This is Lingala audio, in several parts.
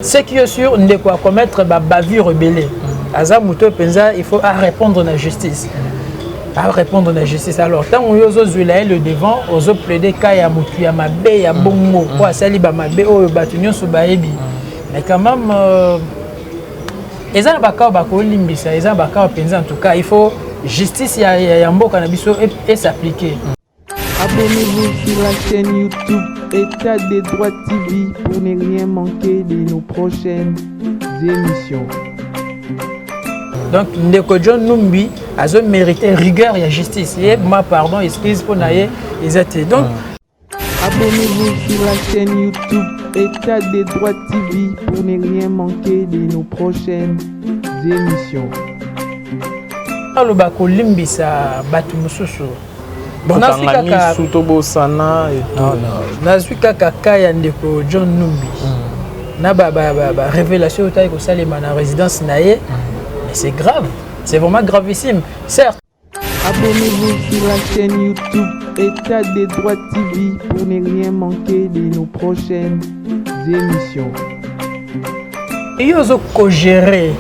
ce qui est sûr ndeko a commettre ba bavure ebele aza moto oyo mpenza il faut a répondre na justice a répondre na justice alors ntango yo ozozwela ye le devant ozo plaide ka ya motu ya mabe ya bongo mpo asali bamabe oyo bato nyonso bayebi mais quand même euh, eza na bakao bakolimbisa eza na bakao mpenza en tout cas il faut justice ya, ya, ya mboka na biso esappliquer Abonnez-vous sur la chaîne YouTube État des droits TV pour ne rien manquer de nos prochaines émissions. donc ndeko john numbi azo mérité rigueur ya justice ye ma pardon excuse mpo na ye eza te donc Abonnez-vous sur la chaîne YouTube État des droits TV pour ne rien manquer de nos prochaines émissions. aloba kolimbisa bato mosusu tokanga misu tobosana nazwi kaka ka ya ndeko john numbi hmm. na barévélation oyo tali kosalema na résidence na ye hmm. mais c'est grave c'est vraiment gravissime certes Abonnez-vous sur la chaîne YouTube État des droits TV pour ne rien manquer de nos prochaines émissions. Et yo zo ko gérer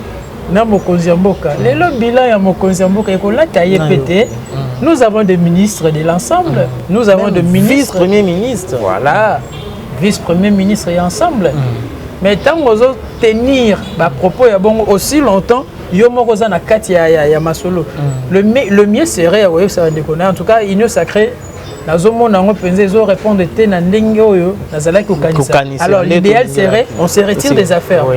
na mokonzi ya mboka lelo bilan ya mokonzi ya mboka ekolata ye pe te mm. nous avons des ministres de l'ensemble mm. nous avons des ministres vice premier ministre voilà vice premier ministre ya ensemble mm. mais ntango ozo tenir bapropos ya bongo aussi longtemps yo moko oza na kati ya, ya, ya masolo mm. le, le mieux serait ya koyebisa bandeko na en tout cas union sacrée nazomona yango mpenza ezo répondre te na ndenge oyo nazalaki kokanisa alors l'idéal serait on se retire des affaires oui.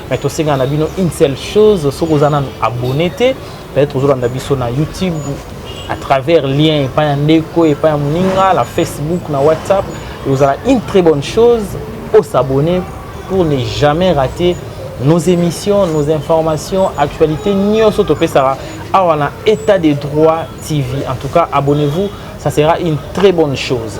mais tosengaka na bino une seule chose soki oza nanu abonne te peut-être ozolanda biso na youtube à travers lien epai ya ndeko epai ya moninga na facebook na whatsapp ekozala une très bonne chose osabonne pour ne jamais rater nos émissions nos informations actualité nyonso topesaka awa na état de droit tv en tout cas abonnez-vous ça sera une très bonne chose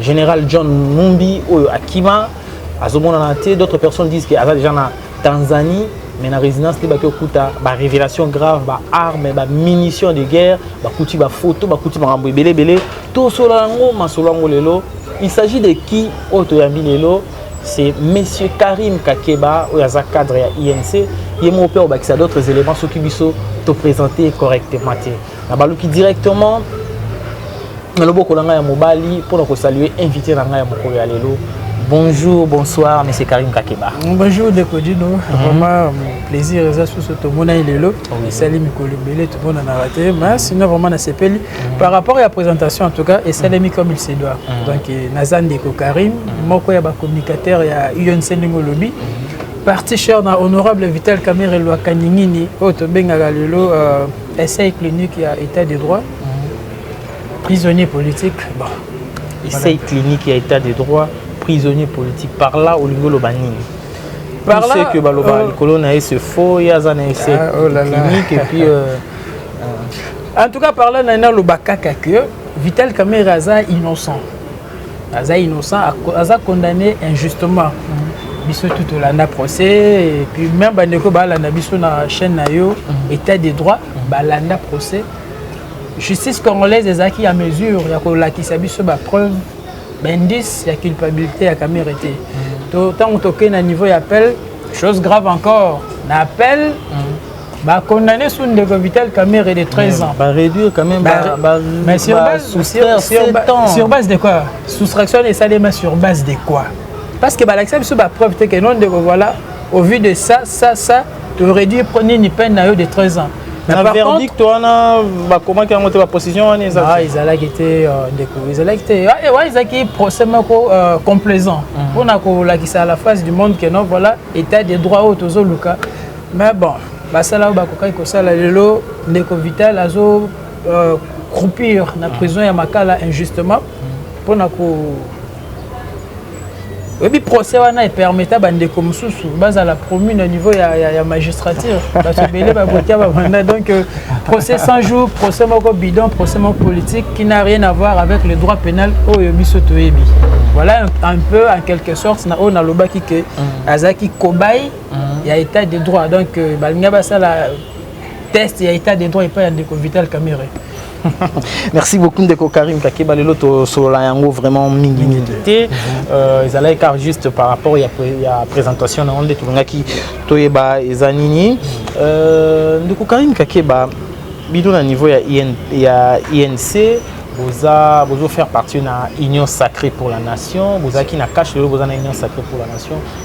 General John Numbi oyo akima azomonana te d'autres personnes disent que aza déjà na Tanzanie mais na résidence te baki okuta ba révélation grave ba armes ba munitions de guerre bakuti ba photo bakuti makambo ebele ebele tosola yango masolo yango lelo il s'agit de qui oyo toyambi lelo c'est monsieur Karim Kakeba oyo aza cadre ya INC ye moko mpe obakisa d'autres éléments soki biso topresente correctement te nabaluki directement na loboko na ngai ya mobali mpo na kosalue invité na ngai ya mokolo ya lelo Bonjour, bonsoir, M. Karim Kakeba. Bonjour, Dekodino. Mm -hmm. Vraiment, euh, plaisir, eza susu to mona ilelo. Oui. Sali mikolo belé tout bon na raté, mais sinon vraiment na sepeli. Mm -hmm. Par rapport à la présentation en tout cas, et ça mis comme il se doit. Mm -hmm. Donc euh, Nazan Deko Karim, mhm. moko ya ba communicateur ya UNC Ningo Lobby. Mhm. Parti cher na honorable Vital Kamerhe Lwa Kaningini, oyo tobengaka lelo euh, Essai clinique ya état de droit. Prisonnier politique. Bon. Essai clinique ya état de droit, prisonnier politique. Par là, olingi oloba nini? Par là, c'est que baloba euh, likolo na ye se faux, ya za na essai ah, oh là là. clinique et puis euh, euh, En tout cas, par là, na na loba kaka que Vital Kamerhe aza innocent. aza innocent aza condamné injustement biso tout tolanda procès et puis même bandeko balanda biso na chaîne na yo mhm. état de droit balanda procès justice congolaise ezalaki ya mesure ya kolakisa biso bapreuve baindice ya culpabilité ya kamere te mhm. ntango tokei na niveau ya appel chose grave encore na appel mhm. Bah, condamné sous une déco vitale Kamere de 13 ans. Bah, réduire quand même. Bah, bah, mais sur, bah, base, sur, sur, sur, sur base de quoi Soustraction des salaires, sur base de quoi Parce que bah, l'accès sur la preuve, c'est que non, de voilà, au vu de ça, ça, ça, tu aurais dû prendre une peine à eux de 13 ans. Mais na verdict wana bakomaki yango te baposition wana ah, ezalaki te euh, ndeko ezalaki te wana ah, eh, ezalaki procès moko euh, complaisant mpona mhm. kolakisa à la face du monde que non voilà état de droit oyo tozoluka Mais bon, basala oyo bakokaki kosala lelo ndeko Vital azo euh, croupir na prison ya Makala injustement mpona ko oyebi procès wana epermeta bandeko mosusu bazala promu na niveau ya, ya, ya magistrature bato ebele babotia babanda donc euh, procès 100 jours procès moko bidon procès moko politique qui n'a rien à voir avec le droit pénal oyo biso toyebi voilà un peu en quelque sorte na oyo nalobaki ke mm. azalaki cobaye il y a état de droit donc euh, balinga basala test ya état de droit epai ya ndeko vital camere merci beaucoup ndeko karim kakeba lelo tosolola yango vraiment mingi mingi te euh, ezalaki car juste par rapport ya, ya présentation na yango nde tolingaki toyeba eza nini euh, ndeko karim kakeba bino na niveau ya, IN, ya inc boza bozo faire partie na union sacrée pour la nation bozalaki na cash lelo boza na union sacrée pour la nation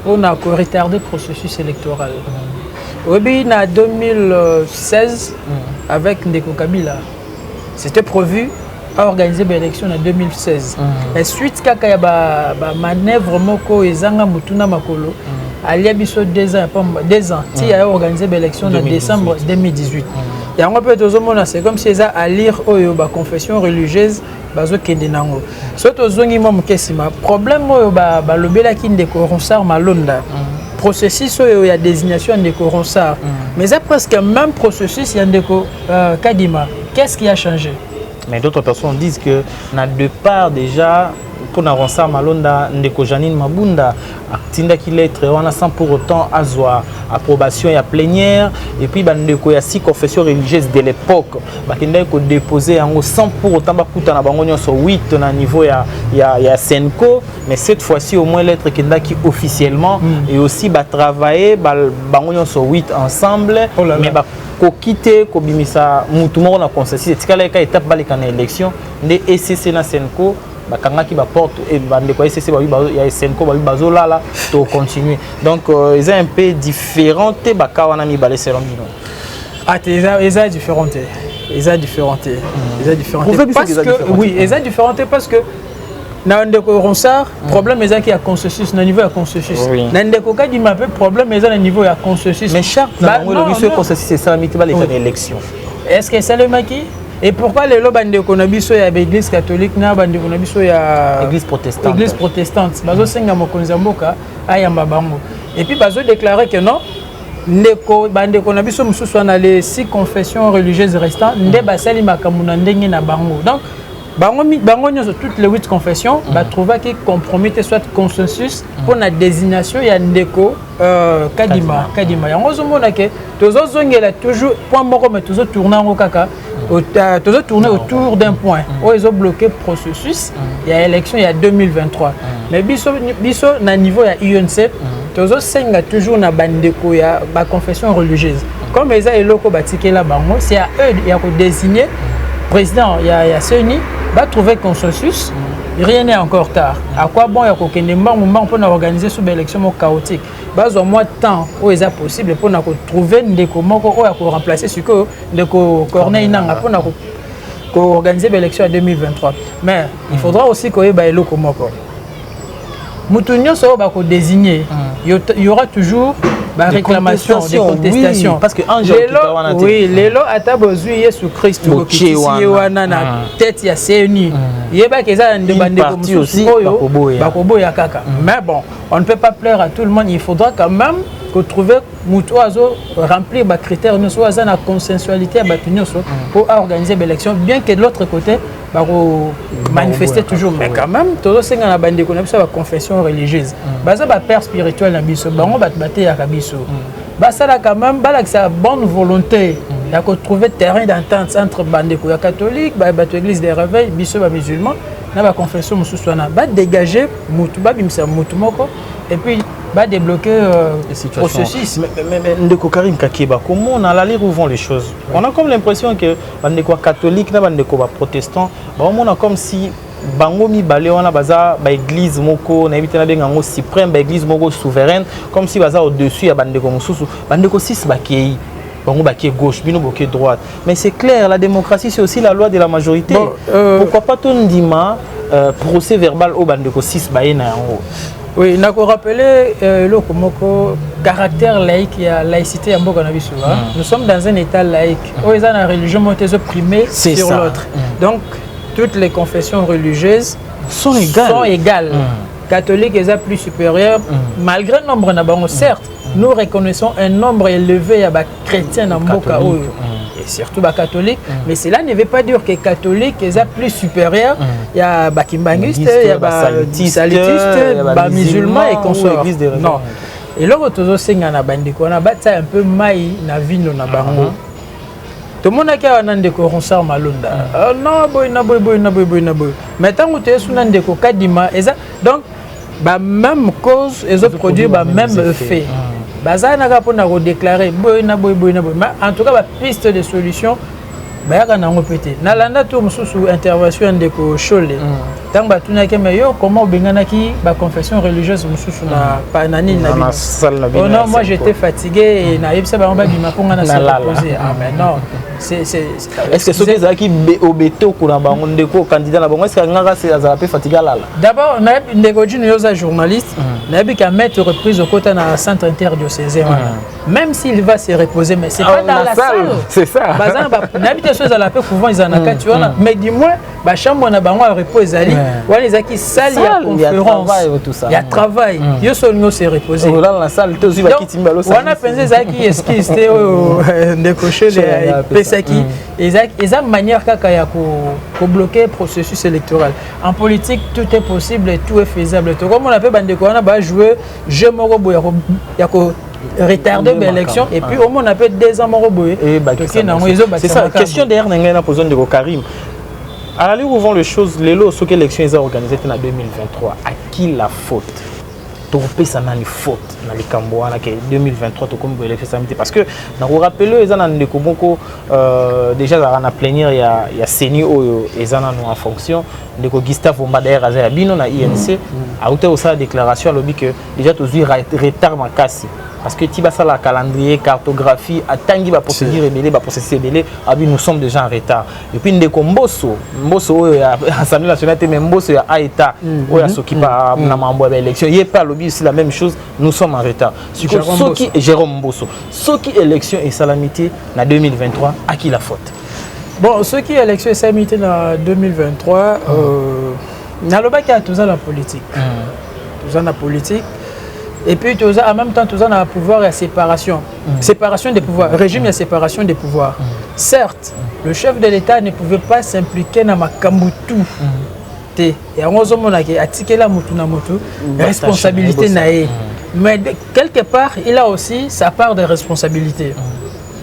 mpo na ko retarder processus electoral oyebi na 2016 avec ndeko kabila c'était prévu aorganize baélection na 2016 mm. suite kaka ya bamanœuvre ba moko ezanga motuna makolo mm. alia biso deux ans, deux ans. Mm. ti aya organise baélection na décembre 2018 mm. yango mpe tozomona c'est comme si eza alire oyo baconfession religieuse bazokende nango soki tozongi mwa moke nsima problème oyo balobelaki ba ndeko ronsard malonda mm. processus oyo ya désignation ya ndeko ronsard mm. mais eza presque même processus ya ndeko uh, kadima qu'est ce qui a changé mais d'autres personnes disent que na départ déjà mpona ronsard malonda ndeko janine mabunda atindaki lettre wana sans pour autant azwa approbation ya plénière et puis bandeko ya six confession religieuse de l'époque bakendaki kodépose yango sans pour autant bakutana bango nyonso 8 na niveau ya, ya, ya senco mais cette fois-ci au moins lettre ekendaki officiellement mm. et aussi batravaille ba, bango nyonso 8 ensemble oh là là. mais ba, koki te kobimisa motu moko na consensus etikalaki ka etape baleka na élection nde ecc na senco bakangaki baporte eh, bandeko ya ecc ya esenco babi bazolala to continue donc euh, eza un peu différent te baka wana mibale selon bino ate ah, eza différent te eza différent te hmm. eza différent te parce que oui eza différent te parce que na ndeko ronsard hmm. problème ezalaki ya consensus na niveau ya consensus na ndeko kadima mpe problème eza na niveau ya consensus mais charte na bango elobi soki consensus esalami te baleka na élection est ce que esalemaki Et pourquoi lelo bandeko na biso ya église catholique na bandeko na biso ya église protestante église protestante bazo senga mokonzi ya mboka ayamba bango et puis bazo déclarer que non ndeko bandeko na biso mosusu wana les six confessions religieuses restant nde basali makambo na ndenge na bango donc bango bango nyonso toutes les huit confessions mm. batrouvaki compromis te soit consensus mpo mm. na désignation ya ndeko euh, kadima kadima yango ozomona ke tozo zongela toujours point moko mais tozo tourner yango kaka euh, tozo tourner autour d'un point mm. oyo ezo bloquer processus mm. ya élection ya 2023 mm. mais biso biso na niveau ya UNC tozo senga toujours na bandeko ya ba confession religieuse comme eza eloko batikela bango c'est à eux ya ko désigner président ya ya CENI va trouver consensus rien n'est encore tard à quoi bon ya kokende mbangu mbangu mpona organiser sous baélection moko chaotique bazwa mwa temps oyo eza possible mpo na kotrouve ndeko moko oyo akoremplace sikoyo ndeko corneille nanga mpo na koorganize baélection ya 2023 mais il faudra aussi koyeba eloko moko moto nyonso oyo bakodesigne y aura toujours baréclamation de contestation oui lelo ata bozwi yesu kristu bokitisi ye wana na tete ya cni yebaki eza na bandeko mosusu oyo bakoboya kaka mais bon on ne peut pas plaire à tout le monde il faudra quand même kotrouve moto oyo azo remplir bacritère nyonso oyo aza na consensualité ya bato nyonso mpo mm. aorganiser baélection bien que de l'autre côté bakomanifeste toujours mais quand même tozosenga na bandeko na biso ya baconfession religieuse mm. baza bapère spirituel na biso bango bato bateyaka biso mm. basala quand même balakisa bonne volonté ya kotrouve terrain d'entente entre bandeko ya catholique bato église de réveil biso bamusulman na ba confession mosusu wana ba dégage mutu babimisa mutu moko et puis ba débloquer euh, processus mais, mais, mais ndeko Karim Kakeba comment on aller où vont les choses ouais. on a comme l'impression que bandeko catholique na bandeko ba protestant ba omona comme si bango mibale wana baza baeglize moko nayebi te nabenga yango suprême baeglize moko souveraine comme si baza au-dessus ya bandeko mosusu bandeko 6 bakei bango bakie gauche bino bokie droite mais c'est clair la démocratie c'est aussi la loi de la majorité bon, euh... pourquoi pas tondima euh, procès verbal oyo bandeko 6 baye na yango oui nakorapele euh, eloko euh, moko caractère laïque ya laïcité ya mboka na biso mm. nous sommes dans un état laïque oyo eza na religion moko te ezoprime sur l'autre mm. donc toutes les confessions religieuses sont égales, sont égales. Mm. catholique eza plus supérieur mm. malgré nombre na bango certes nous reconnaissons un nombre élevé ya bachrétien na mboka oyo mm. et surtout bacatholique mm. mais cela ne veut pas dire que catholique eza plus supérieur mm. ya bakimbanguiste ya basalutiste bamusulman et consort non eloko tozosenga na bandeko wana batia un peu mai na vino na bango uh -huh. tomonaki awa na ndeko ronsar malonda mm. uh, ah, na boye na boye boye na boye boye na boye mai ntango toyesu na ndeko kadima eza donc ba même cause ezo produire ba même effet hmm. baza na kaka mpona kodeklare boye na boye boye na boye mais en tout cas bapiste de solution bayaka na yango mpe te nalanda tour mosusu intervention ya ndeko shole ntango hmm. batunaki me yo comment obenganaki baconfession religieuse mosusu na hmm. nini na bino oh non moi j'étais fatigué nayebisa bango babima mpo ngai na se repose ah mais non est ce que soki ezalaki obetoko na bango ndeko candidat na bango est ce que alingaka azala mpe fatigué alala d'abord nayebi ndeko jino yo oza journaliste hmm. nayebi ka maitre reprise okota na centre interdiocésain wana hmm. même s'il va se reposer mais c'est ah, pas dans la salle c'est ça baza na nayebi te so ezala mpe couvent ezala na hmm. kati wana mais du moins ba chambre na bango ya repos ezali wana ezalaki salle ya conférence ya travail mm. yo solo nyonso e reposer wana mpenza ezalaki esquisse te oyo euh, ndeko shele epesaki mm. eza manière kaka ya kobloke processus électoral en politique tout est possible et tout est faisable tokomona mpe bandeko wana bajoue jeu moko boye ya ko retarder ba élection et puis au moins on a peut deux ans moko boye toke nango ezobakisa c'est ça question derrière na ngai na pozo ndeko Karim À la ligue où vont les choses, lelo soki élection eza organisée te na 2023, à qui la faute tokopesa nani faute na likambo wana ke 2023 tokomi boye élection esami te parce que nakorapele eza na ndeko moko euh, déjà azalaka na plénière ya, ya ceni oyo eza nano en fonction ndeko gustave omba d'ailleurs aza ya bino na inc mm. auta kosala déclaration alobi ke Déjà tozui retard makasi parce que ti basala calendrier cartographie atangi ba procédure ebele ba processus ebele abi nous sommes déjà en retard et puis ndeko mboso mboso oyo ya assemblée nationale te mais mboso ya aeta mm. oyo asoki ba mm. mm. na mambo ya élection ye pe alobi aussi la même chose nous sommes en retard siko soki Jérôme Mboso soki élection esalami te na 2023 à qui la faute bon soki élection esalami te na 2023 euh, nalobaki ya toza na politique mm. toza na politique et puis toza en même temps toza na pouvoir ya séparation mm. séparation des pouvoirs régime ya séparation des pouvoirs mm. certes le chef de l'état ne pouvait pas s'impliquer na makambo tout mm. te yango ozomonake atikela motu na motu mm. responsabilité na ye mm. mais quelque part il a aussi sa part de responsabilité mm.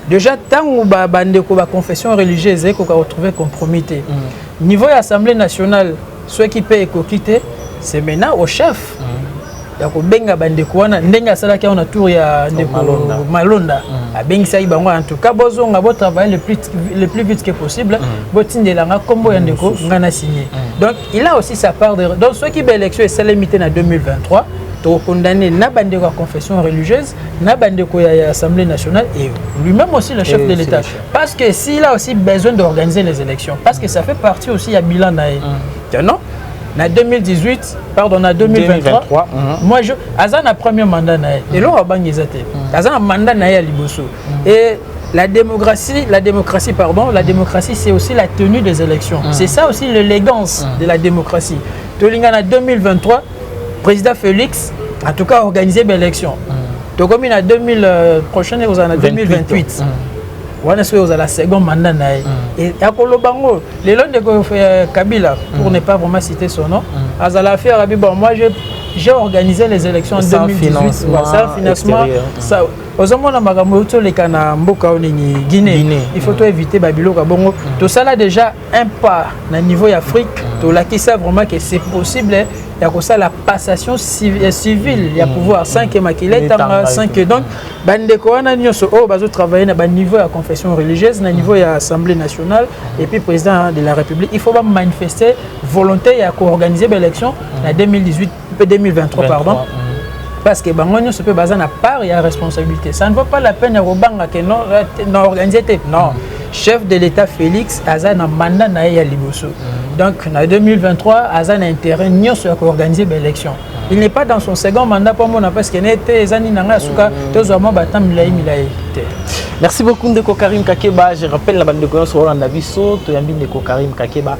Déjà, tant que ba bande ko ba confession religieuse et ko ka retrouver compromis te. Mm. Niveau de l'Assemblée nationale, ceux qui paient ko quitter, c'est maintenant au chef. Mm. ya kobenga bandeko wana ndenge asalaki yango na tour ya ndeko malonda, malonda. Mm. abengisaki bango en tout cas bozonga botravaille le plus, le plus vite que possible mm. botindela nga nkombo ya mm, ndeko mm. nga na signe mm. donc il a aussi sa part de donc soki baélection esalemi te na 2023 tokokondamne na bandeko ya confession religieuse na bandeko ya, ya assemblée nationale et lui-même aussi le chef et de l'état parce que s'il a aussi besoin d'organiser les élections parce que ça fait partie aussi ya bilan na ye mm. non na 2018 pardon na 2023, 2023 mm -hmm. moi je aza na premier mandat na ye mm. eloko abangi eza te mm. aza na mandat na ye ya liboso mm. et la démocratie, la démocratie, pardon, la démocratie, c'est aussi la tenue des élections. Mm. C'est ça aussi l'élégance mm. de la démocratie. Tolingana 2023, Président Félix, en tout cas, organiser une élection. Mm. Donc, comme il a 2000, euh, prochaine, vous en avez 2028. wana soki ozala second mandat na ye mm. akoloba yango lelo ndeko euh, kabila pour mm. ne pas vraiment citer son nom mm. azala affaire abi bon moi j'ai organisé les élections en 2018 sans financement ozomona makambo euti oleka na mboka oyo nini guinée il faut toevite babiloko ya bongo tosala déjà un pas na niveau ya Afrique tolakisa vraiment que c'est possible ya kosala passation euh, civile ya mm. pouvoir sans que makila etanga sans que donc bandeko wana nyonso oyo bazotravaille na baniveau ya confession religieuse na niveau ya assemblée nationale et puis président de la république il faut bamanifeste volonté ya koorganiser baélection na 2018 mpe 2023 pardon parce que bango nyonso mpe baza na part ya responsabilité ça ne vaut pas la peine ya kobanga ke non na organise te non chef de l'état félix aza na mandat na ye ya liboso donc na 2023 aza na intérêt nyonso ya koorganiser baélection il n'est pas dans son second mandat mpo amona parce que ne te eza nini na ngai ya suka tozwa mwa bata milai milai te merci beaucoup ndeko karim kakeba je rappelle na bandeko nyonso olanda biso toyambi ndeko karim kakeba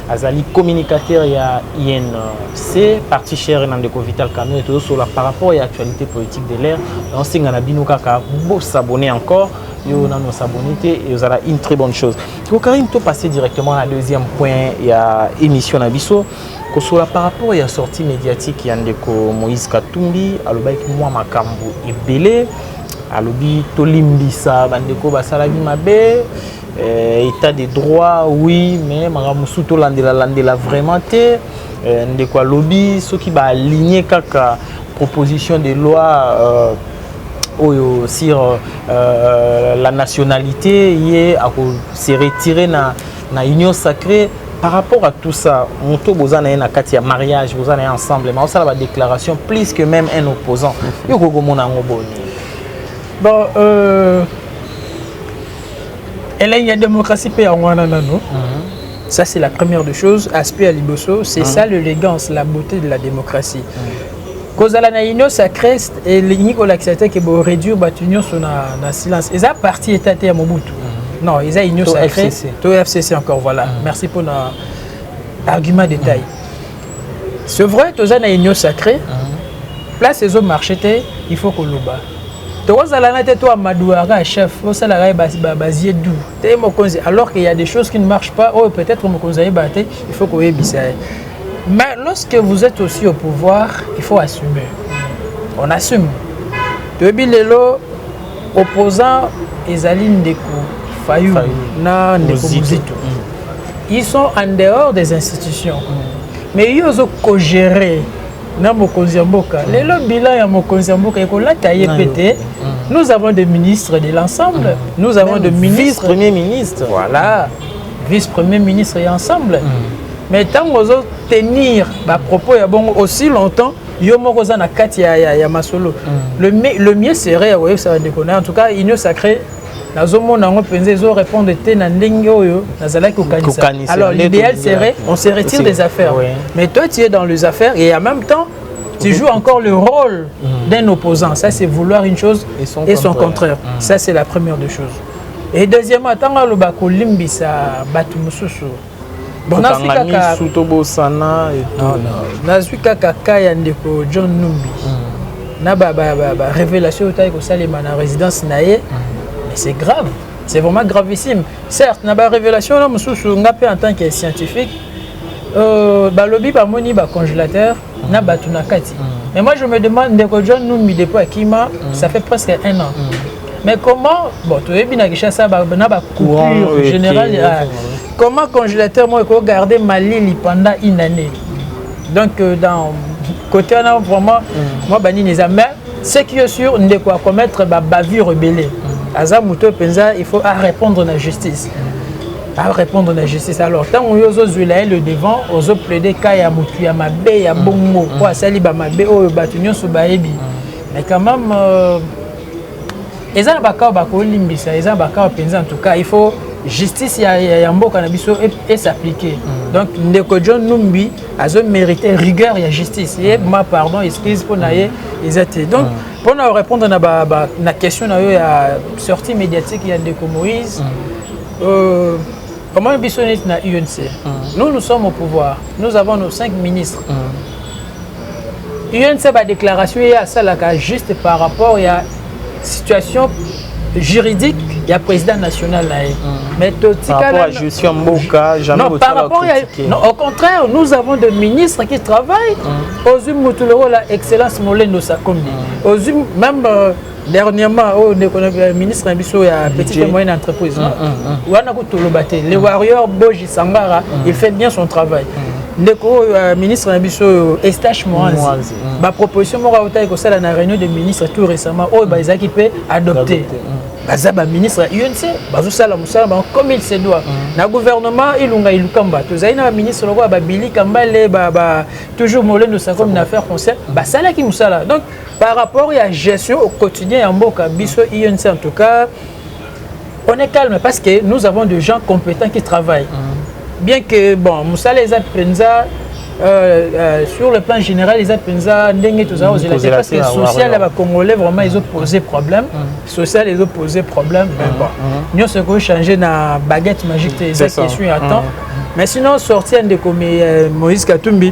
azali communicateur ya INC parti chere na ndeko Vital Kamerhe tozosola par rapport ya actualité politique de l'air naosenga na bino kaka bosabone encore yo nanu osabone te ezala une très bonne chose kokarini topasse directement na deuxième point ya émission na biso kosola par rapport ya sortie médiatique ya ndeko moïse katumbi alobaki mwa makambo ebele alobi tolimbisa bandeko basalaki mabe Euh, état de droit oui mais makambo mosusu tolandela landela vraiment te euh, ndeko alobi soki baaligne kaka proposition de loi euh, oyo sur euh, la nationalité ye akose retire na, na union sacrée par rapport à tout ça moto boza na ye na kati ya mariage boza na ye ensemble ma osala badéclaration plus que même un opposant yo kokomona yango boni bon euh, elengi ya démocratie mpe yango wana nano ça c'est la première des choses aspect ya liboso c'est ça l'élégance la beauté de la démocratie kozala na union sacrée elingi kolakisa te ke boréduire bato nyonso na, na silence eza parti eta te ya mobutu non eza union sacrée to fcc encore voilà merci mpona argument détail c'est vrai toza na union sacrée mhm. place ezo marché te il faut koloba tokozalana te to amadouaka chef osalaka ye bazie du te ye mokonzi alors qu'il y a des choses qui ne marchent pas oyo oh, peut-être mokonzi ayeba te il faut koyebisa ye mais lorsque vous êtes aussi au pouvoir il faut assumer on assume toyebi lelo Opposant ezali ndeko Fayulu, Fayulu. na ndeko Muzito. Mm. Ils sont en dehors des institutions. Mm. Mais yo ozo co-gérer na mokonzi ya mboka. Mm. Lelo bilan ya mokonzi ya mboka ekolata ye pe te. Mm. Nous avons des ministres de l'ensemble. Mm. Nous avons Même des ministres. Vice-premier ministre. Voilà. Vice-premier ministre et ensemble. Mm. Mais tant que tenir ba propos ya bongo aussi longtemps yo moko oza na kati ya, ya, ya masolo mm. le, le mieux serait ya koyebisa bandeko na en tout cas union sacrée nazomona yango mpenza ezo répondre te na ndenge oyo nazalaki kokanisa alors l'idéal serait on se retire des affaires oui. mais toi tu es dans les affaires et en même temps tu joues encore le rôle mm. d'un opposant ça c'est vouloir une chose et son et son contraire, contraire. Mm. ça c'est la première des choses et deuxièmement ntango aloba kolimbisa bato mosusu tokanga misu tobosana nazwi kaka ka ya ndeko john numbi hmm. na barévélation oyo tali kosalema na résidence na ye hmm. mais c'est grave c'est vraiment gravissime certes na barévélation wana mosusu nga mpe en tant que scientifique euh, balobi bamoni bacongélateur na bato na kati mm. mais moi je me demande ndeko john numbi depuis akima mm. ça fait presque un an mm. mais comment bon toyebi na kinshasa na bacoupure générale ah, comment congélateur moko ekoki garde malili pendant une année donc euh, dans côté wana vraiment mwa banini eza mais ce qui est sûr ndeko akomettre babavure ebele aza moto mpenza il faut arépondre na justice a répondre na justice alors ntango yo ozozwela ye le devant ozo plaide ka ya motu ya mabe ya bongo mpo asali bamabe oyo bato nyonso bayebi mais quand même euh, eza na bakao bakolimbisa eza na bakao mpenza en tout cas il faut justice ya, ya, ya mboka na biso esappliquer mm. donc ndeko john numbi azo mérite rigueur ya justice ye ma pardon excuse mpo na ye eza te donc mm. mpo na répondre na, ba, ba, na question na yo ya sortie médiatique ya ndeko moïse mm. Euh, comment biso neti na UNC mm. nous nous sommes au pouvoir nous avons nos cinq ministres mm. UNC badéclaration ye asalaka juste par rapport ya situation juridique ya président national na ye mm. mais totikalajustion mboka non par rapport ya non, au contraire nous avons des ministres qui travaillent mm. ozwi motu lokola excellence molendo sakomi mm. ozwi même euh, dernièrement oyo oh, ndeko euh, ministre na biso ya petite et moyenne entreprise mm, mm, mm. wana kutoloba te le warrior boji sangara il fait bien son travail ndeko oyo euh, ministre na biso oyo euh, estache moanzi baproposition moko autaki kosala na réunion de ministre tout récemment oyo ba ezalaki mpe adopté baza baministre ya unc bazosala mosala bango comme il se doit mm. na gouvernement ilunga ilukamba tozali na baministre lokola babili kambale toujours molendo sakomi na affaire français mm. basalaki mosala donc par rapport ya gestion au quotidien ya mboka biso inc en tout cas on est calme parce que nous avons des gens compétents qui travaillent mm. bien que bon mosala eza mpenza Euh, euh, sur le plan général eza mpenza ndenge tozala kozela te parce que social ya bacongolais vraiment ezopose problème mm. social ezopose problème mais mm, bon mm. nyonso ekoki change na baguette magique te eza question ya temps mais sinon sorti ya ndeko euh, moïse katumbi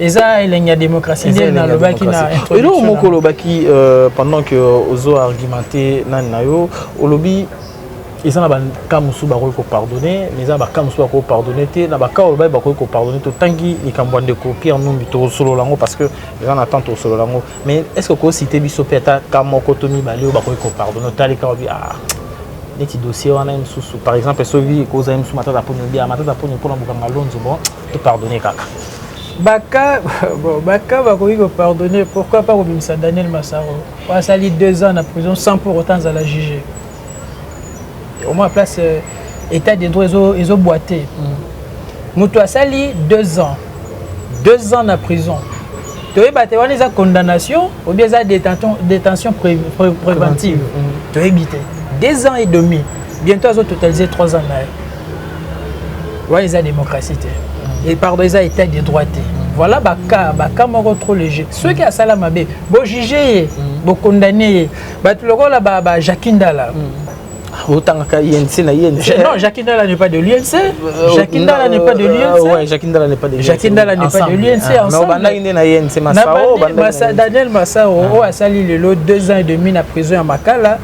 eza elengi ya démocratie nde nalobaki na eloko moko olobaki euh, pendant que ozo argumenté nani na yo olobi eza na baka mosusu bakoki kopardonne mais eza na baka mosusu bakoki kopardonne te na baka oyo baye bakoki kopardonne totangi likambo ya ndeko pierre numbi tokosolola yango parce que eza na temps tokosolola yango mais est ce que okosite biso mpe ata ka moko to mibale oyo bakoki kopardonne otali kaka obi ah neti dossier wana ye mosusu par exemple soki ekozala ye mosusu matata poni obi ah matata poni mpona bokanga lonzo bon To pardonner kaka. Baka, bon, Baka bakoki ko pardonner, pourquoi pas kobimisa Daniel Massaro oyo asali deux ans na prison sans pour autant azala jugé. Au moins place euh, état de droit ezo ezo boiter. Moto mm. asali deux ans, deux ans na prison. toyeba te wana eza condamnation obien eza détention, détention pré, pré, préventive mm. toyebi te deux ans et demi bientôt azototalise trois ans na ye wana eza démocratie te et pardon eza état de droit te voilà baka baka moko trop léger soki asala mabe bojuge ye mm. bokondane ye bato lokola bajacqui ndala mm. otangaka INC na INC non Jacques Ndala n'est pas de l'INC euh, Jacques Ndala n'est pas de euh, l'INC ouais Jacques Ndala n'est pas de l'INC Jacques Ndala n'est pas de l'INC ah, ensemble non bandaki nde na INC Masao bandaki Daniel Masao ah. oyo asali lelo 2 ans et demi na prison ya Makala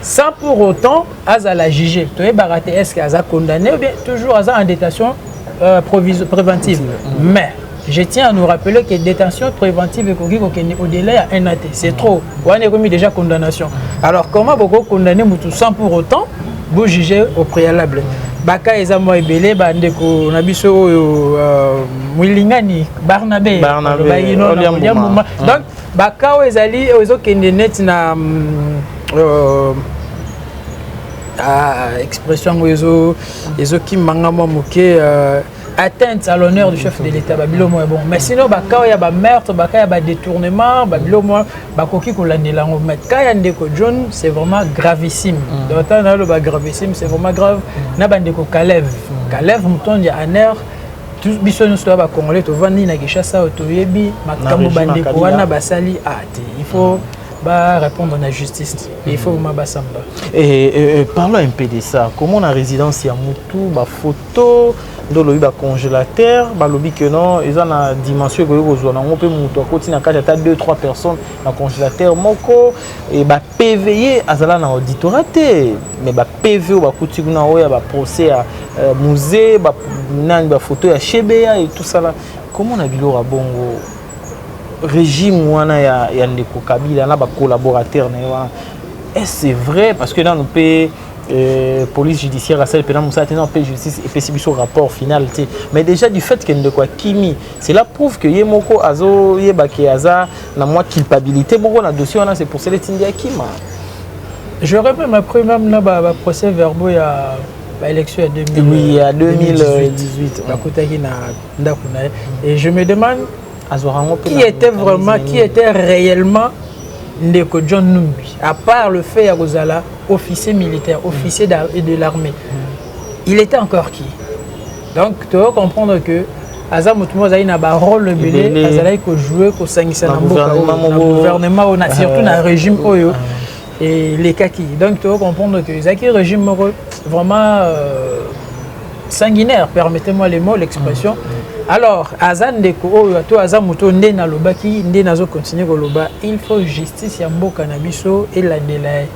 sans pour autant azala juge toyebaka te est-ce que aza condamné ou bien toujours aza en détention euh, préventive mm. mais je tiens à nous rappeler que détention préventive ekoki kokende au-delà ya un ate c'est trop wana ekomi déjà condamnation alors comment boko condamner mutu sans pour autant bojuge au préalable baka eza mwa ebele bandeko na biso oyo euh, mwilingani barnabe bayinodiambuma mm. donc bakao ezali oyo ezokende neti na mm, euh, ah, expression yango ezo ezokima nga mwa moke euh, atteinte à l'honneur du chef de l'état babilo moya bongo mais sinon bakao ya bameurtre baka ya badetournement babilo moya bakoki kolandela yango mais ka ya ndeko john c'est vraiment gravissime mm. donc ntango naloba gravissime c'est vraiment grave na bandeko kalev kalev motondi ya aner biso nyonso toya bacongolais tovandi na kinshasa oyo toyebi makambo bandeko wana basali a ah, te il faut ba répondre na justice te il faut ma basamba eh, eh, eh, parlons un peu de ça comment na résidence ya mutu bafoto nde olobi bacongélateur balobi que non eza na dimension ekoki kozwa nango mpe moto akoti na kati ata 2 3 personnes na congélateur moko e bapve azala na auditorat te mais PV oyo bakuti kuna oyo ya baprocès ya euh, musée nani bafoto ya shebeya etusala komona biloko ya bongo régime wana ya, ya ndeko kabila na bacollaborateur na ye wana est ce vrai parce que nanu mpe Euh, police judiciaire asali mpena mosala te na mpe justice epesi biso rapport final te mais déjà du fait ke ndeko akimi cela prouve que ye moko azoyeba ke aza na mwa culpabilité moko na dossier wana c'est pour cela etindi akima J'aurais même appris même na ba, ba procès verbaux ya ba élections ya 2000, oui, ya 2018 bakutaki na ndako na ye et je me demande qui était vraiment qui était réellement ndeko John Numbi à part le fait ya kozala officier militaire officier de l'armée il était encore qui donc toyo comprendre que aza moto moko azali na barole ebele azalaki kojoue kosangisa na mboka gouvernement oyo surtout na régime oyo elekaki donc toyo comprendre que ezalaki régime moko vraiment euh, sanguinaire permettez moi le mot l'expression mm. alors aza ndeko oyo to aza moto nde nalobaki nde nazokontinue koloba il faut justice ya mboka na biso elandela ye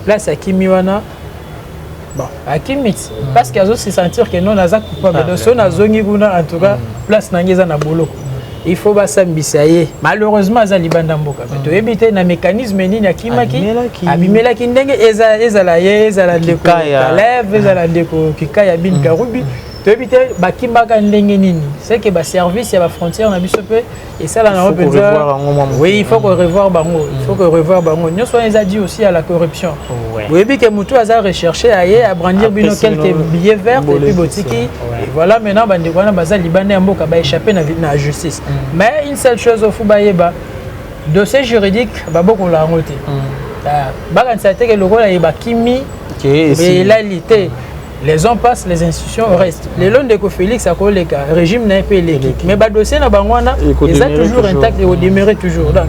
place akimi wana Bon. akimiti mm. parce que azo se sentir que non naza coupable ah, donc soki nazongi kuna en tout cas mm. place na ngai eza na boloko mm. il faut basambisa ye malheureusement aza libanda mboka me toyebi te na mécanisme nini akimaki abimelaki ndenge ezala ye ezala ndeko kaleve ezala ndeko kikaya bin karubi toyebi te bakimaka ndenge nini seke baservice ya bafrontière na biso mpe esala na penza oui il faut ko revoir bango il faut ko revoir bango nyonso wana eza dit aussi à la corruption boyebi ke motu aza recherche aye abrandir bino quelques billets verts et puis botiki voilà maintenant bandeko wana baza libanda ya mboka ba échappe na na justice mm. mais une seule chose ofu bayeba dossier juridique babokola yango te mm. ah, bakanisa teke lokola ye bakimi elali te mm. les ans passent les institutions restent lelo ndeko félix akoleka régime na ye mpe eleki mais badossier na bango wana eza toujours intact ekodemere toujours donc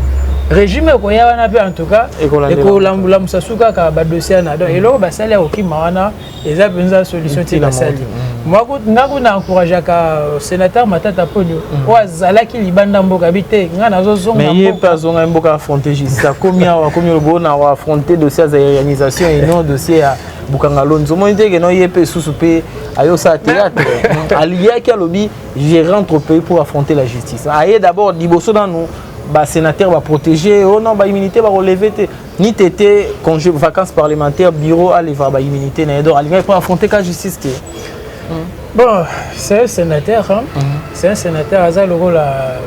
régime ekoya wana mpe en tout cas ekolambulambusa su kaka badossier wana donc eloko basali ya kokima wana eza mpenza solution te basali nga kuna encourageaka euh, sénateur matata ponio mm. oyo azalaki libanda mboka bi te nga nazozongaye mpe azongaki mboka affronte justice akomi awa akomi lobo na affronte dossier ya zairianisation et non dossier ya bukanga lonzo omoni te keno ye mpe esusu mpe ayosala théâtre aliyaki alobi je rentre au pays pour affronter la justice aye d'abord liboso nanu basénateur baprotégé o oh non baimmunité bakoleve te ni tete congé vacances parlementaire bureau aleva baimmunité na ye donc alingaki mpo affronter ka justice te mm. bon c'est un sénateur hein? Mm. c'est un sénateur aza lokola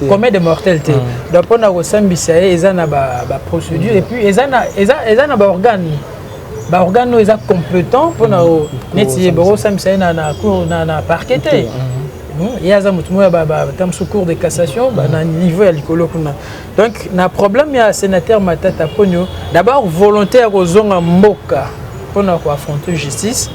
commun de mortel te hmm. donc mpona kosambisa ye eza na baprocédure hmm. epuis eza na baorgane baorgane oyo eza compétent mpona hmm. neti ye bakosambisa ye na parquet te ye aza motu moko ya ta mosusu cour de cassation na niveau ya likolo kuna Donc na problème ya sénateur Matata Ponyo, d'abord volonté ya kozonga mboka pona ko affronter justice.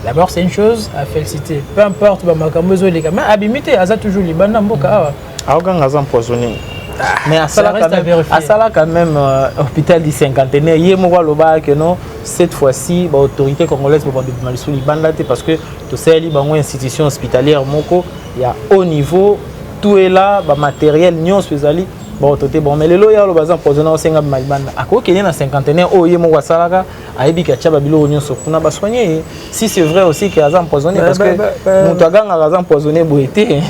D'abord c'est une chose à féliciter. Peu importe ba makambo ezo leka, mais abimité aza toujours libanda mboka awa. Aoganga aza empoisonné. Ah, mais asalaka même, asalaka même euh, hôpital du cinquantenaire ye moko alobaka que non cette fois-ci baautorité congolaise babanda bima lisusu libanda te parce que tosaleli bango institution hospitalière moko ya haut niveau tout est là ba matériel nyonso ezali baoto te bon mais lelo ye aloba aza mpoisonne aosenga bima libanda akoki kende na cinquantenaire oyo ye moko asalaka ayebi ke atya babiloko nyonso kuna basoigne ye si c'est vrai aussi ke aza mpoisonne parce que moto agangaka aza mpoisonne boye te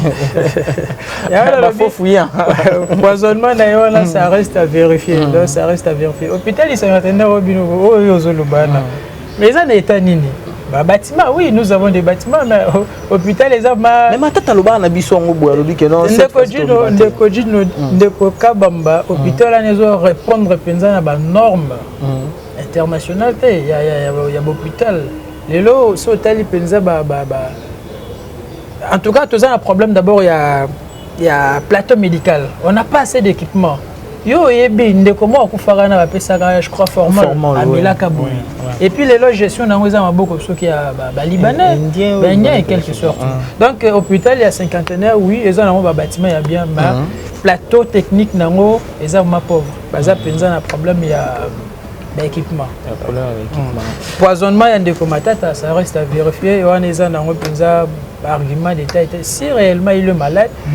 bafo fouillant mpoisonnement na ye wana ça reste à vérifier donc ça reste à vérifier hôpital cinquantenaire oyo bino oyo ozoloba na Mais ça n'est pas nini ba bâtiment oui nous avons des bâtiments mais euh, hôpital eza ma mais matata loba na biso ngo boya lobi ke non ndeko jino ndeko jino hmm. ndeko kabamba hmm. hôpital wana ezo répondre penza na ba norme hmm. internationale te ya ya ya, ya hôpital lelo so tali penza ba ba ba en tout cas toza na problème d'abord ya ya plateau médical on n'a pas assez d'équipement yo oyebi ndeko moko akufaka na bapesaka je crois formal amelaka boye et puis lelo gestion nango eza maboko soki ya balibanais baindien et quelque sorte donc euh, hôpital ya cinquantenaire oui eza nango babatiment ya bien ba plateau technique nango eza ma pauvre baza mpenza na problème ya ba équipement poisonnement ya ndeko matata ça reste à vérifier wana eza nango mpenza argument d'état ete si réellement il est malade mm.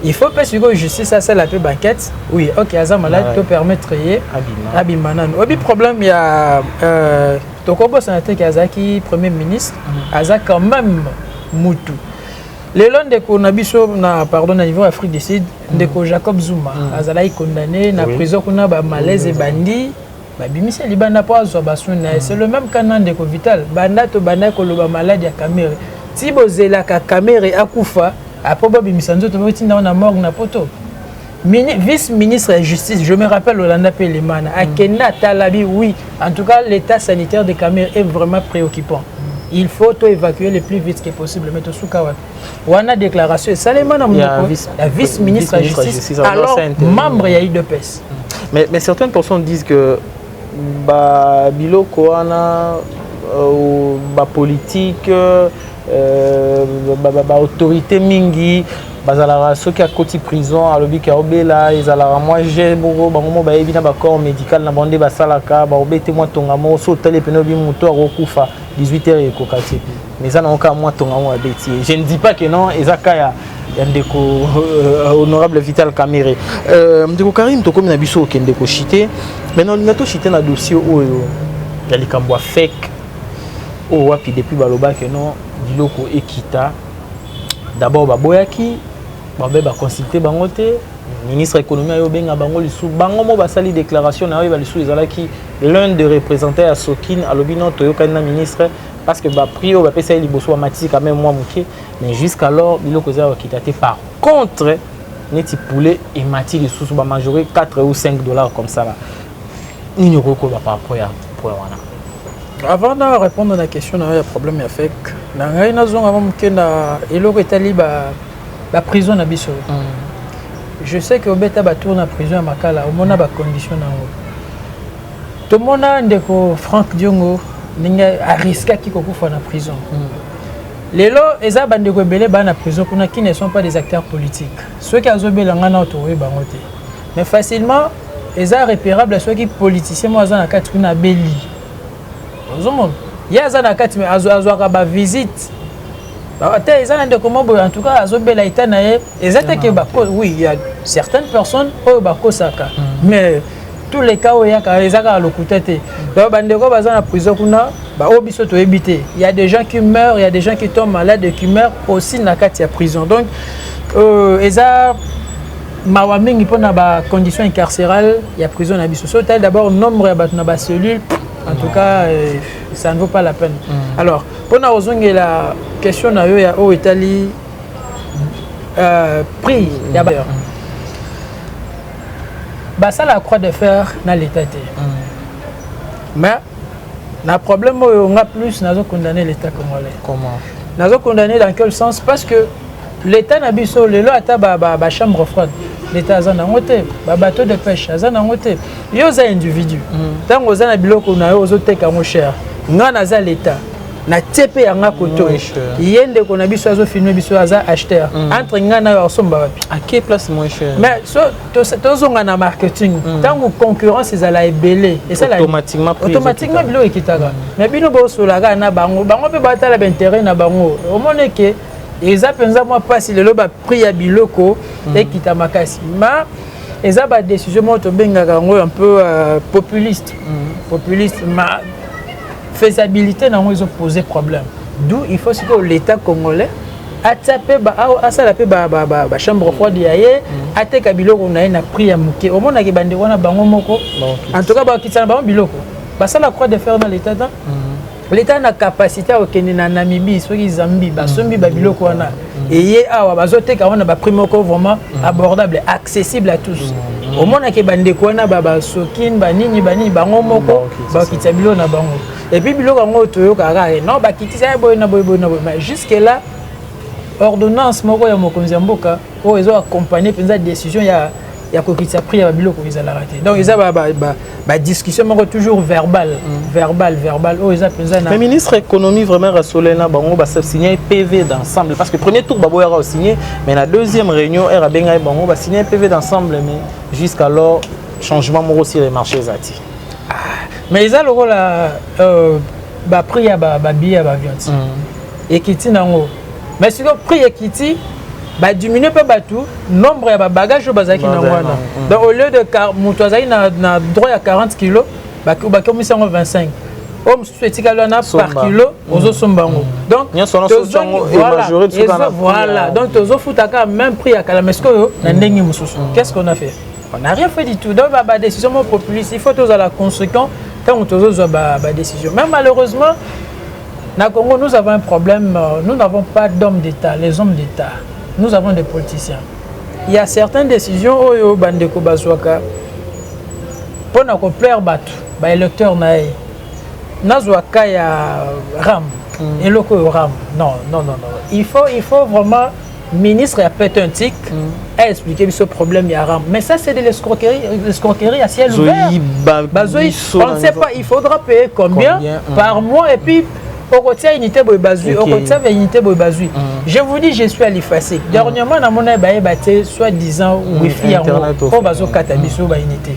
il faut mpe sikoyo justice asala mpe banquête oui ok aza malade ah to permettre ye abima nanu oyebi problème ya euh, tokobosana te ke azalaki premier ministre mm. aza quand même mutu lelo ndeko na biso na pardon na niveau afrique du sud ndeko jacob zuma mm. azalaki condamné na prison kuna bamalaise ebandi babimisi libanda mpo azwa basuni na ye c'est le même cas na ndeko vital banda tobandaki koloba maladi ya kamere ti bozelaka kamere akufa apres babimisa nzoto botinda ngo na morgue na poto Mini, vice ministre ya justice je me rappelle olanda mpe lemana akenda atalabi oui en tout cas l'état sanitaire de kamere est vraiment préoccupant il faut to évacuer le plus vite que possible mais tosuka wapi wana déclaration esalema na monoko ya vice ministre ya justice alors membre ya idps mais, mais certaines personnes disent que ba biloko wana euh, ba politique euh, ba, ba, ba autorité mingi bazalaka soki akoti prison alobi ke aobela ezalaka mwa je moko bango moko bayebi na bacorps médical na bango nde basalaka baobete mwa tonga moko so otali epene obi moto akokufa 18 heures ekoka te mais eza nango kaka mwa tonga moko abeti ye je ne dis pas que non eza ka ya ya ndeko euh, honorable vital camere euh, ndeko karine tokomi na biso okende koshite mai na olinga toshite na dossier oyo ya likambo ya fake oyo wapi depuis balobaki no biloko ekita d'abord baboyaki babe baconsulte bango te ministre ya économie ayo obenga bango lisusu bango mo basali déclaration na oyo balisusu ezalaki l'un de représentant ya sokine alobi no toyokani na ministre parce que ba prix oyo bapesa ye liboso bamatisi quand même mwa moke mais jusqu'alors biloko eza kokita te par contre neti poulet emati lisusu bamajore 4 ou 5 dollars comme ça là nini okoki koloba par rapport ya point wana avant na répondre na question na yo ya problème ya fake na ngai nazonga mwa moke na eloko etali baprison na biso mm. je sais que obeta batour na prison ya makala omona bacondition na yango tomona ndeko frank diongo ndenge ariskaki kokufa na prison mm. lelo eza bandeko ebele baa na prison kuna qui ne sont pas des acteurs politiques soki azobela ngai nao tokoyi bango te mais facilement eza repérable soki politicien moko aza na kati kuna abeli ozomona ye aza na kati me azwaka bavisite ata eza na ndeko moko boye en tout cas azobela eta na ye eza te ke oui ya certaines personnes oyo bakosaka mm. mais mm. tous les cas oyo yaka eza kaka lokuta te donc bandeko baza na prison kuna baoyo biso toyebi te il y a des gens qui meurent il y a des gens qui tombent malades et qui meurent aussi na kati ya prison donc euh, eza mawa mingi mpo na bacondition incarcérale ya prison na biso so otali d'abord nombre ya bato na bacellule en tout cas euh, ça ne vaut pas la peine mm. alors mpo na kozongela question na yo ya oyo etali euh, prix ya ba mm. basala ya croix de fer na leta te mais na problème oyo nga plus nazo condamner l'état congolais comment nazo condamner dans quel sens parce que l'état na biso lelo ata ba, ba, ba chambre froide l'état aza nango te ba bateau de pêche aza nango te yo oza individu ntango mm. oza na biloko na yo ozoteka yango cher nga naza l'état na tie mpe yanga koto ye ndeko na biso azofilme biso aza acheteur mm. entre ngai nayo akosomba wapi ake place moins cher mais so tozonga na marketing mm. ntango concurrence ezala ebele esalautomatiquement biloko ekitaka mm. mais bino bosolaka na bango bango mpe batala bainteret na bango omoni ke eza mpenza mwa mpasi lelo baprix ya biloko ekita makasi ma eza badécision moko tobengaka yango un peu euh, populiste populiste ma faisabilite na yango ezo pose problème d'où il faut sikoyo l'état congolais atia mpe asala mpe bachambre froide ya ye mm. ateka biloko na ye na prix ya moke omonaki bandeko wana bango moko en tout cas bakitisa na bango biloko basala croix de fer na l'état ta mm. l'état na capacité ya kokende na namibie soki zambie basombi babiloko wana eye awa bazoteka wana baprix moko vraiment mm. abordable accessible à tous mm. omonake bandeko wana babasokin banini banini bango moko mm, bakitisa biloko na bango epuis biloko yango toyokaka eh, non bakitisa ya boye na boye boye na boye mais jusque là ordonnance moko ya mokonzi ya mboka oyo ezo accompagne mpenza décision ya ya kokitisa prix ya babiloko ezalaka te donc eza badiscussion moko toujours verbal mm. verbal verbal oyo oh, eza mpenza na ministre économie vraiment rasolel na bango basigne pv d'ensemble parce que premier tour baboyaka osigne mais na deuxième réunion ere abengaki bango basigne pv d'ensemble mais jusqu'alors changement moko sur les marchés eza te ah, mais eza lokola euh, baprix ya babillet ya bavion ti mm. ekiti nango mais sikoyo prix ekiti badiminue mpe bato nombre ya babagage oyo bazalaki na wana mm. donc au lieu de moto azalaki na droit ya 40 kilo bakomisi yango 25 oyo mosusu etikali wana par kilo mm. ozosomba yango doncvoilà donc tozofuta kaka même prix ya kala mais sikoyo na ndenge mosusu mm. qu'est ce qu'on a fait on n'a rien fait du tout donc badécision mo populiste il faut tozala conséquent ntango tozozwa badécision mais malheureusement Na Congo nous avons un problème, euh, nous n'avons pas d'hommes d'État, les hommes d'État. Nous avons des politiciens. Il y a certaines décisions oyo oh, bandeko bazwaka mpo na koplaire bato ba électeur na ye nazwa ka ya ram mm. eloko oyo ram non non non non il faut il faut vraiment ministre ya petentic a expliqué biso problème ya ram mais ça c'est de l'escroquerie l'escroquerie à ciel ouvert bazoi on ne sait pas il faudra payer combien, combien mm. par mois et puis okotia unité boye bazwi okotia ba unité boye bazwi mm. je vous dis je suis à l'effacer mm. dernièrement namona baye batie soit disant wifi yango oyo bazokata biso ba unité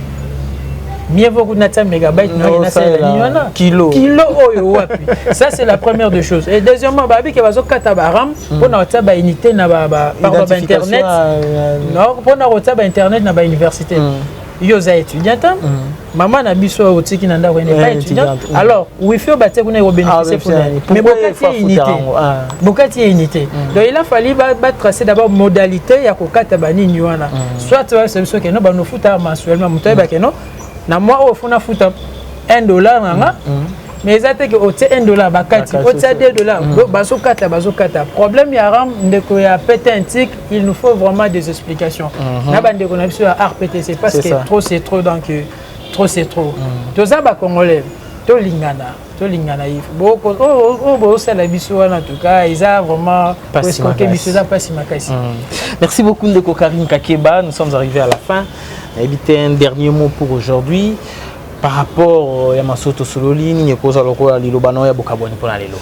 mieux vaut kuna tia mégabyte na na sala ni wana kilo kilo oyo oh, wapi ça c'est la première des choses et deuxièmement ba biki bazo kata ba ram hmm. pona na tia ba unité na ba ba pardon ba internet euh, non pona na tia ba internet na ba université hmm. yo oza étudiante hein? hmm. maman na biso oyo otiki na ndako ene pas étudiante alors wifi oyo batie kuna ekobénéficie kuna ah, mais bokati ye unité ah. bokati ye unité donc il a fallu batrace d'abord modalité ya kokata banini wana soit oyebisa biso ke no bando futa mensuellement moto ayeba ke no na mwa oyo fona futa 1 dollar na nga mm, mm. mais eza te ke otie 1 dollar bakati otia 2 dollar mm. bazokata bazokata problème ya ram ndeko ya pete antique il nous faut vraiment des explications mm-hmm. na bandeko na biso ya rptc parce que trop c'est trop donc trop c'est trop toza bacongolais tolingana tolingana ye oyo bosala biso wana tuka eza vraiment eskoke biso eza mpasi makasi mm. merci beaucoup ndeko karine kakeba nous sommes arrivés à la fin nayebi te un dernier mot pour aujourd'hui par rapport euh, ya maso tosololi nini ekozwa lokola liloba na yo ya bokabwani mpo na lelo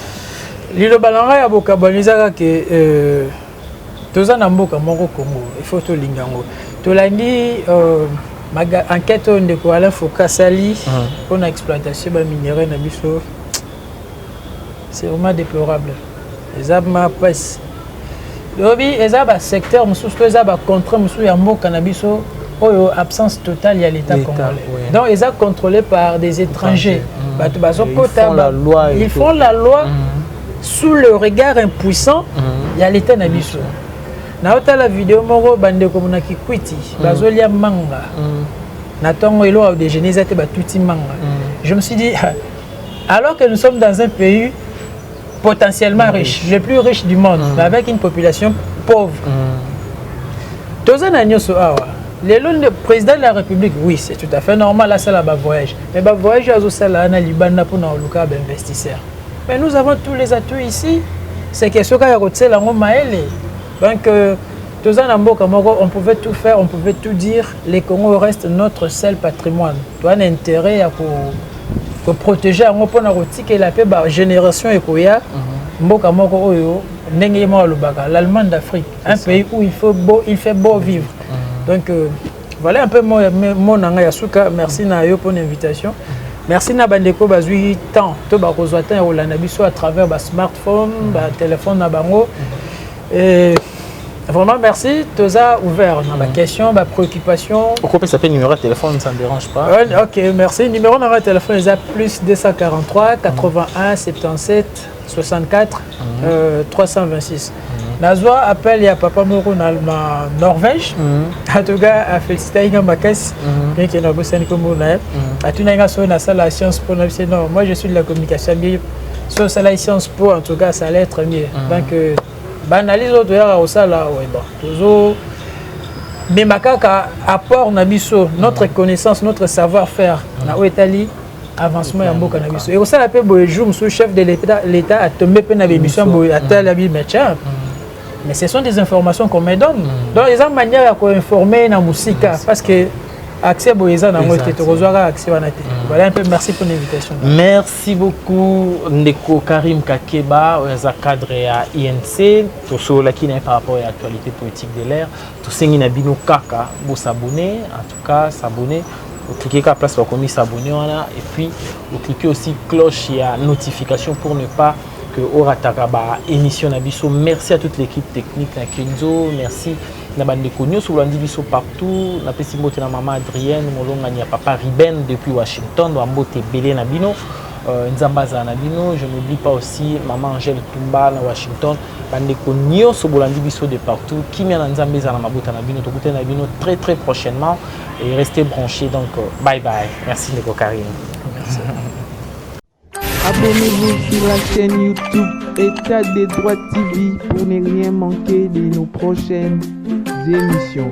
liloba na ngai ya bokabwani ezaka ke euh, toza na mboka moko congo il faut tolinga yango tolandi euh, enquête oyo ndeko alain foka asali mpo na exploitation baminerai na biso c'est vraiment déplorable eza ma presse lobi eza basecteur mosusu to eza bacontre mosusu ya mboka na biso oyo absence totale ya l'état congolais ouais. donc eza contrôlé par des étrangers bato bazokota ils font la loi mm. sous le regard impuissant mhm. ya leta na biso naotala video moko bandeko na kikwiti mhm. bazolia manga mhm. na ntongo elo au déjeuner eza te batuti manga je me suis dit alors que nous sommes dans un pays potentiellement riche le plus riche du monde mais avec une population pauvre toza na nyonso awa lelo nde président de la république oui c'est tout à fait normal asala bavoyage mais bavoyage azosala na libanda mpona koluka bainvestisseur ba Mais nous avons tous les atouts ici. C'est question kaka ya kotiela yango mayele. Donc euh, toza na mboka moko on pouvait tout faire, on pouvait tout dire. Le Congo reste notre seul patrimoine. Toza na intérêt ya ko ko protéger yango mpo na kotikela mpe ba génération ekoya mhm. mboka moko oyo ndenge ye moko alobaka l'Allemagne d'Afrique, un pays où il faut beau, il fait beau vivre. Mhm. Donc euh, Voilà un peu mon, mon nanga ya suka. Merci na yo pour l'invitation. Merci na bandeko bazui temps to bakozwa temps ya kolanda biso à travers ba smartphone, ba téléphone na bango. Et Vraiment, merci. Toza ouvert. On a ma mm. question, ma préoccupation. Pourquoi ça fait numéro de téléphone, ça ne dérange pas Ok, merci. Numéro de téléphone, c'est plus 243 81 77 64 mm -hmm. 326 nazwa appel ya papa moko na norvège atoka afélicitai nga makasi meke nabosani kombo na ye atunaki nga soki nasala science po na bise non moi je suis de la communication bien soki osalaki science po en tout cas ça allait être mieux donc euh, baanalyse oyo toyaka kosala oye bon tozo mema kaka apport na biso notre connaissance notre savoir faire na oyo etali avancement ya mboka na biso ekosala mpe boye jour mosusu chef de l'état atombe mpe na bémission boye atala bi machin mais ce sont des informations qu'on me donne mm. donc eza manière ya koinforme na mosika parce que accès boye eza nango te tokozwaka accès wana te mm. voilà un peu merci pour l'invitation merci beaucoup ndeko karim kakeba oyo aza cadre ya inc tosololaki na ye par rapport ya actualité politique de l'air tosengi na bino kaka bosabone ka s'abonner vous cliquez ka place bakomi s'abonner wana et puis vous cliquez aussi cloche ya notification pour ne pas que orataka ba émission na biso merci à toute l'équipe technique na Kenzo merci na bandeko nyonso bolandi biso partout napesi mbote na mama adrienne molongani ya papa riben depuis washington bambote ebele na bino euh, nzambe azala na bino je n'oublie pas aussi mama angèle tumba na washington Bandeko nyoso bolandi biso de partout, kimia na Nzambe ezala na mabota na bino, tokutani na bino très très prochainement et restez branchés donc euh, bye bye. Merci ndeko Karim. Merci. Abonnez-vous sur la chaîne YouTube État des droits TV pour ne rien manquer de nos prochaines émissions.